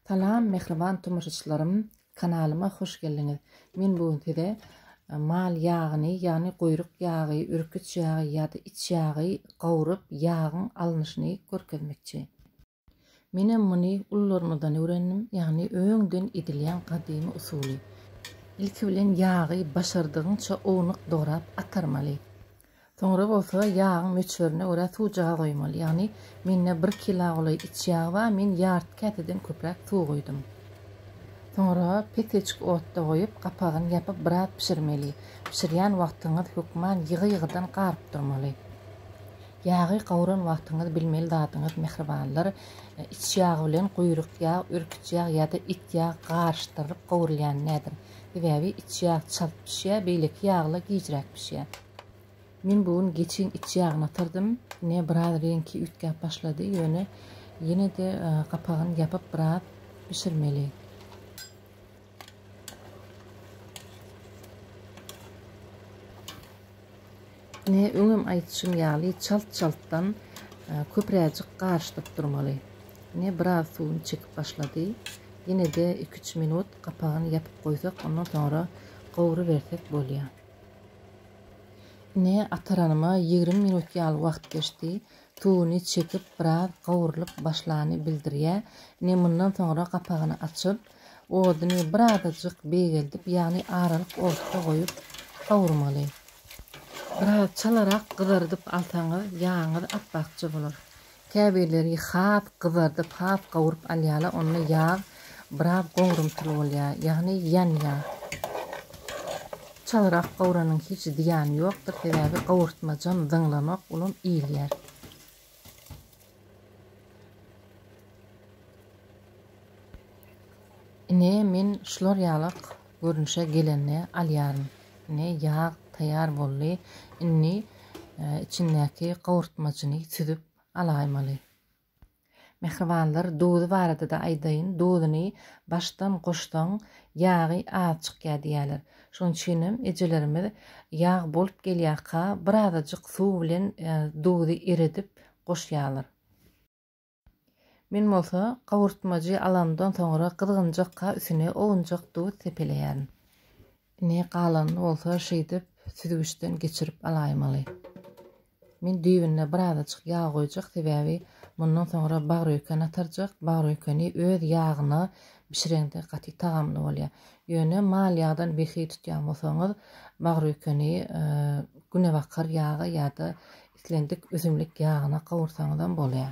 Salam mähriban tomaşaçylarym kanalyma hoş geldiňiz men bu gün size mal ýagyny ýagny guýruk ýagy ürküç ýagy ýada iç ýagy gawrup ýagyň alnyşyny görkezmekçi. Menem muny ulularymyzdan öwrendim ýagny öňden edilýän gadymy usuly. Ilki bilen ýagy başardygyňça ownuk dograp atarmaly. Soňra bolsa ýagyň möçberine görä suw jaga goýmaly. Ýagny mende bir kila golaý iç ýag bar, men ýarty käseden köpräk suw goýdum. Soňra peteçik otda goýup, gapagyny ýapyp biraz bişirmeli. Bişirýän wagtyňyz hökman ýygy-ýygydan garyp durmaly. Ýagy gawran wagtyňyz bilmeli zadyňyz mähribanlar, iç ýag bilen guýruk ýag, örküç ýag ýa-da it ýag garyşdyrylyp gowrulýan däldir. Sebäbi iç ýag çalt bişýär, beýleki ýaglar gijräk bişýär. Men bu gün geçiň iç ýagyny ýatyrydym. Ine, biraz reňki üýtgäp başlady, ýöne ýene-de gapagyny ýapyp biraz bişirmeli. Ine, öňem aýdyşym ýaly, çalt-çaltdan köpräjik garyşdyryp durmaly. Ine, biraz suwuny çekip başlady. Ýene-de iki-üç minut gapagyny ýapyp goýsak, ondan soňra gowrubersek bolýar. Ine, ataranyma ýigrimi minut ýaly wagt geçdi. Tuguny çekip, biraz gowrulyp başlany bildirýä. Ine, mundan soňra gapagyny açyp, oduny birazajyk beýgeldip, ýagny aralyk otda goýup gawurmaly. Biraz çalarak gyzarydyp alsaňyz, ýagyňyz ap-akja bolar. Käbirleri has gyzardyp, has gawuryp alýarlar, onda ýag biraz gowrumtyl bolýar, ýagny ýanýar. Çalyrak gawranyň hiç zyýany ýokdur, sebäbi gawurtmajam zyňlanok, olam iýilýär. Ine, men şular ýaly Görnüşe gelende alýaryn. Ine, ýag taýýar boldy. Indi içindäki gowurtmajyny süzüp alaýmaly. Mähribanlar, duzy barada-da aýdaýyn. Duzuny başdan goşsaň, ýagy az çykýar diýýärler. Şonuň üçinem ejelerimiz ýag bolup gelýärka, birazajyk suw bilen duzy eredip goşýarlar. Men bolsa gowurtmajy alandan soňra gyzgynjakka üsüne owunjak duz sepeleýärin. Ine, galanyny bolsa şeýdip süzgüçden geçirip alaýmaly. Men düýbüne birazajyk ýag goýjak, sebäbi mundan soňra bagrýuken atarjak. Bagrýukeni öz ýagyna bişireňde gaty tagamly bolýar. Ýöne mal ýagdan behi tutýan bolsaňyz, bagrýukeni günebakar ýaga ýa-da Islendik üzümlik ýagyna gowursaňyzam bolýar.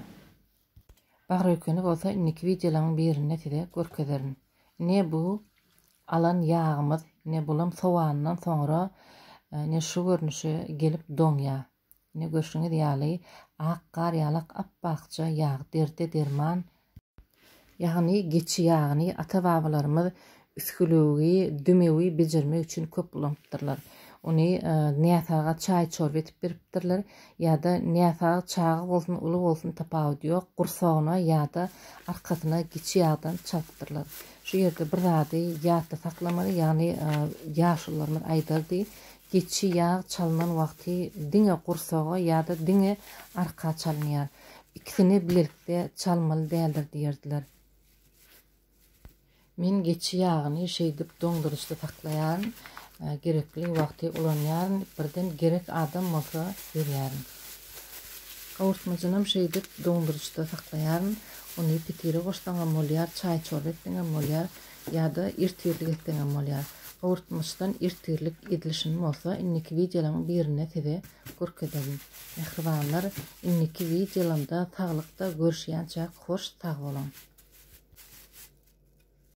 Bagrökeni bolsa indiki wideolaryň birinde size görkezerin. Ne bu alan ýagymyz, ne bulam sowandan soňra ne şu görnüşe gelip doňýar, ne görşüňiz ýaly ak gar ýalak ap-akja ýag, derde derman Ýagny geçi ýagyny ata-babalarymyz üsgülewigi, dümewi bejermek üçin köp ulanypdyrlar. Ony näsaga çaý-çorba edip beripdirler ýa-da näsag çaga bolsun, uly bolsun tapawudy ýok, gursagyna ýa-da arkasyna geçi ýagdan çalypdyrlar. Şu ýerde bir zady ýatda saklamaly, ýagny ýaşulularymyz aýdardy, Geçi ýag çalnan wagty diňe gursaga ýa-da diňe arka çalynýar. Ikisini bilelikde çalmaly däldir diýerdiler. Men geçi ýagyny şeýdip doňduryjda saklaýaryn. Gerekli wagty ulanýaryn, birden gerek adam bolsa berýärin. Gawurtmajynam şeýdip doňduryjda saklaýaryn. Ony pitire goşsaňam bolýar, çaý-çorba etseňem bolýar. Ýa-da ertirlik etseňem bolýar. Gowurtmaçdan ertirlik edilişin bolsa indiki wideolaň birinde size görkezerin. Mähribanlar indiki wideolamda saglykda görüşýänçäk hoş sag boluň.